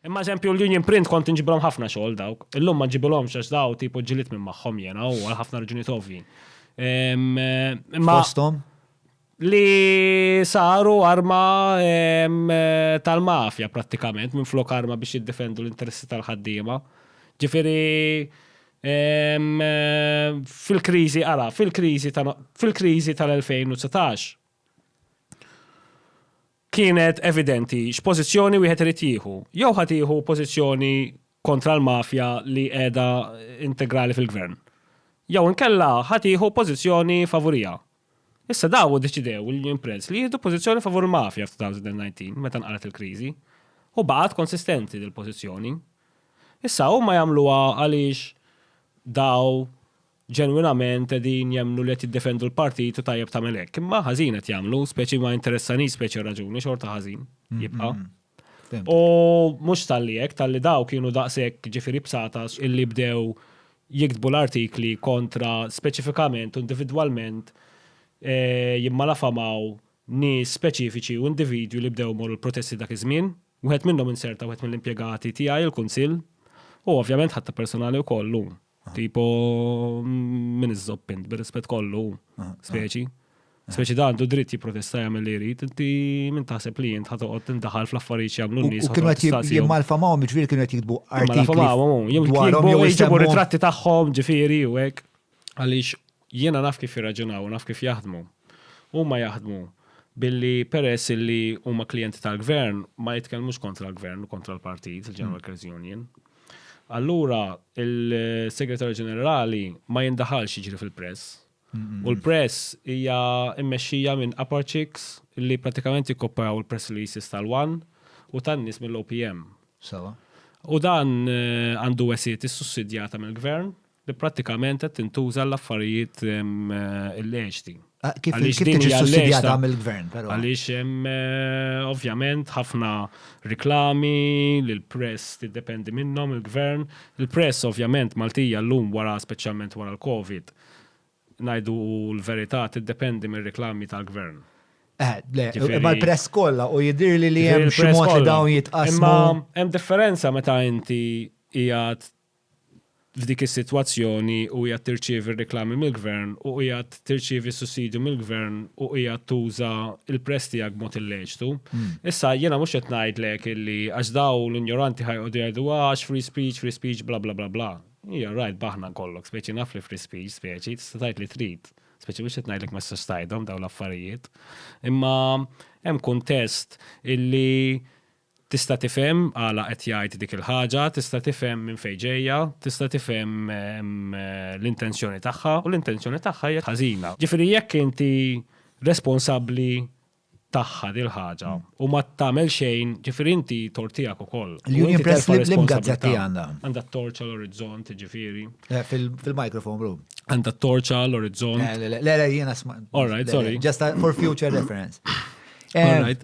Imma eżempju l-Union Print kont inġibilhom ħafna xogħol dawk. Illum ma ġibilhom xax daw tipo ġilit minn magħhom jena u għal ħafna raġuni tovji. Fostom? Li saru arma tal-mafja prattikament minn flok arma biex jiddefendu l-interessi tal-ħaddiema. Ġifieri fil-kriżi ara, fil-kriżi tal-2019 kienet evidenti x'pożizzjoni wieħed irid jieħu. Jew ħa tieħu pożizzjoni kontra l-mafja li qiegħda integrali fil-Gvern. Jew inkella ħa tieħu pożizzjoni favuriha. Issa daw iddeċidew l-Union Press li jieħdu pożizzjoni favur il-mafja f'2019 meta nqalgħet il-kriżi. U baqgħet konsistenti dil-pożizzjoni. Issa huma jagħmluha għaliex daw ġenwinament qegħdin jemmnu li qed jiddefendu l-partit u tajjeb tagħmel hekk. Imma ħażin qed jagħmlu, speċi ma interessanix speċi raġuni xorta ħażin jibqa'. U mhux talli hekk, talli daw kienu daqshekk ġifieri bsatas illi bdew jiktbu l-artikli kontra speċifikament u individwalment eh, jimmalafamaw nies speċifiċi u individwi li bdew morru l-protesti dak iż-żmien. Wieħed minnhom inserta wieħed mill-impjegati tiegħi il-Kunsill u ovvjament ħatta personali wkoll hu. Tipo, minn iżżob int, bir-rispett kollu, speċi. Speċi da għandu dritt jipprotesta jagħmel li jrid, inti minn taħseb li jint ħatoqgħod tindaħal fl-affarijiet jagħmlu n-nies. U kienu qed jimmalfa magħhom, jiġifieri kienu qed jiktbu artikli. Jew jġibu ritratti tagħhom, ġifieri u hekk. Għaliex Jiena naf kif jirraġunaw u naf kif jaħdmu. Huma jaħdmu billi peress illi huma klijenti tal-Gvern ma jitkellmux kontra l-Gvern u kontra l-Partit, il-General Workers Union. Allura il-Segretarju Ġenerali ma jindaħalx jiġri fil-press. U l-press hija mmexxija minn upper chicks li pratikament jikkoppjaw il-press releases tal-One u tan-nies mill-OPM. Sewwa. U dan għandu wesgħiet issussidjata mill-Gvern. li prattikament qed tintuża għall-affarijiet illeċti. Ah, kif kif tiġi sussidjata mill-gvern, però. Għaliex hemm eh, ovvjament ħafna reklami li l-press tiddependi minnhom il-gvern. Il-press ovvjament Maltija llum wara speċjalment wara l-Covid ngħidu l-verità tiddependi mir-reklami tal-gvern. Eh, le, imma l-press kollha u jidir li li hemm xi mod li dawn jitqasmu. Imma hemm differenza meta inti qiegħed f'dik is-sitwazzjoni u qiegħed tirċievi r-riklami mill-gvern u qiegħed tirċievi s-sussidju mill-gvern u qiegħed tuża l-press tiegħek b'mod illeċtu. Issa jiena mhux qed ngħidlek illi għax dawn l-injoranti ħa joqogħdu jgħidu għax free speech, free speech bla bla bla bla. Ija rajt b'aħna nkollok, speċi naf li free speech, speċi tista' tgħid li trid. Speċi mhux qed ngħidlek ma tistax tgħidhom dawn l-affarijiet. Imma hemm kuntest illi Tista' tifhem għala qed jgħid dik il-ħaġa, tista' tifhem minn fejn ġejja, tista' tifhem l-intenzjoni tagħha, u l-intenzjoni tagħha hija ħażina. Ġifieri jekk inti responsabbli tagħha dil-ħaġa u ma tagħmel xejn, ġifieri inti tort tiegħek ukoll. L-Union Press l-imqas gazzetta għandha. Għandha t-torċa l-orizzont, ġifieri. Fil-microphone room. Għandha t-torċa l-orizzont. Le, le, jiena sma. All right, sorry. Just for future reference. All right.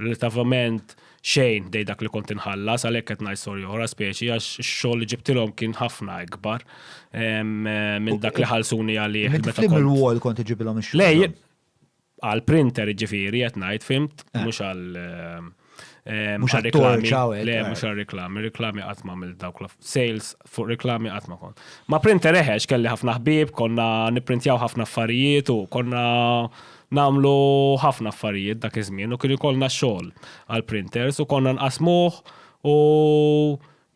Relativament xejn dej dak li kont inħallas għalhekk qed ngħid storja oħra speċi għax ix-xogħol li ġibtilhom kien ħafna ikbar minn dak li ħalsuni għalih. Meta kont il-wall kont iġibilhom ix-xogħol. Lej, għal printer ġifieri qed ngħid fimt eh. mhux għal eh, eh, mhux għal reklami. Le, mhux għal reklami, reklami qatt ma mill dawk sales fuq reklami qatt ma kont. Ma printer eħex kelli ħafna ħbieb, konna nipprintjaw ħafna affarijiet u konna nagħmlu ħafna affarijiet dak iż-żmien u kien ikollna xogħol għall-printers u konna nqassmuh u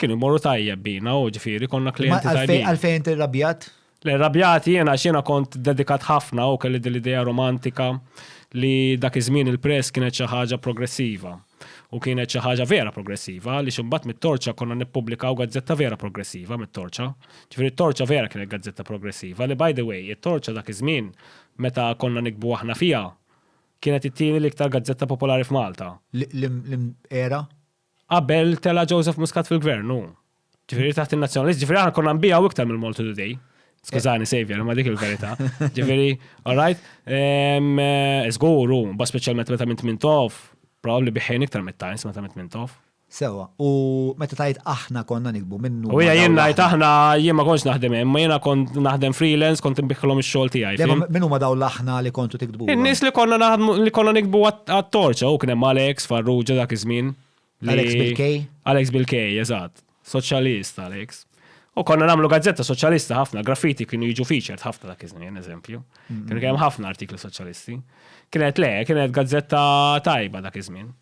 kienu jmorru tajjeb bina u ġifieri konna klijenti tajbin. Għalfejn inti rrabjat? Le rrabjat jiena għax jiena kont dedikat ħafna u kelli din l-idea romantika li dak iż-żmien il-press kienet xi ħaġa progressiva. U kienet xi ħaġa vera progressiva li ximbat mit-torċa konna nippubblikaw gazzetta vera progressiva mit-torċa. Ġifieri t-torċa vera kienet gazzetta progressiva li by the way, it-torċa dak iż-żmien meta konna nikbu aħna fiha kienet it-tieni l-iktar gazzetta popolari f'Malta. L-era? Qabel tela' Joseph Muscat fil-Gvern, hu. Ġifieri taħt in-nazzjonalist, ġifieri aħna konna nbijaw iktar mill-Malta Today. Skużani, Xavier, ma dik il-verità. Ġifieri, all right? Ehm, eh, Żgur, u ba speċjalment meta minn Tmintof, probabbli biħejn iktar mit-Times meta minn Tmintof. Sewa, u meta tajt aħna konna nikbu minnu. U hija jien ngħid aħna jien ma kontx naħdem hemm, ma jiena kont naħdem freelance, kont inbiħħilhom ix-xogħol tiegħi. Le, fim? ma- Min huma daw l-aħna li kontu tikdbu? In-nies li konna naħdmu li konna nikbu għat- għat-torċa, u kien hemm Alex, Farrugia dak iż-żmien. Alex Bilkej? Alex Bilkej, eżatt. Soċjalist, Alex. U konna namlu gazzetta soċjalista ħafna, graffiti kienu jiġu featured ħafna dak iż-żmien, eżempju. Mm-hmm. Kienu kemm ħafna artikli soċjalisti. Kienet le, kienet gazzetta tajba dak iż-żmien.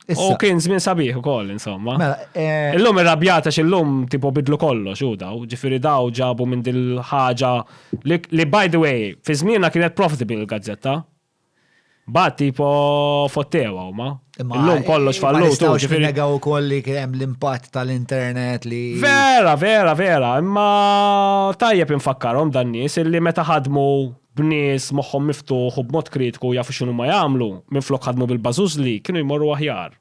U kien żmien sabiħ ukoll, insomma. Mela, eh, illum irrabjata x'illum tipo bidlu kollox u daw, ġifieri daw ġabu minn dil-ħaġa li by the way, fi żmienna kienet profitable il-gazzetta. Mbagħad tipo fottewa huma. Illum kollox fallut. Nistgħu x'negaw ukoll li kien hemm l-impatt tal-internet li. Vera, vera, vera, imma tajjeb infakkarhom dan nies illi meta ħadmu b'nies moħħhom miftuħ u b'mod kritiku jafu x'inhuma jagħmlu, minflok ħadmu bil-bażużli, kienu jmorru aħjar.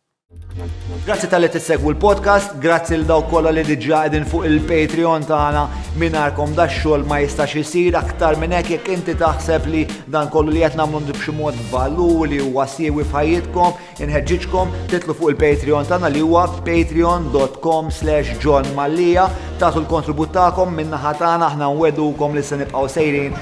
Grazzi tal-li tissegwu l-podcast, grazzi l daw kolla li diġa għedin fuq il-Patreon tagħna minarkom da xogħol ma jistax isir aktar minn hekk jekk inti taħseb li dan kollu li qed nagħmlu b'xi mod valur li huwa siewi f'ħajjitkom, inħeġġiġkom titlu fuq il-Patreon tagħna li huwa patreon.com slash John Mallia tagħtu l-kontribut tagħkom minnaħa tagħna aħna nwedukom li se nibqgħu sejrin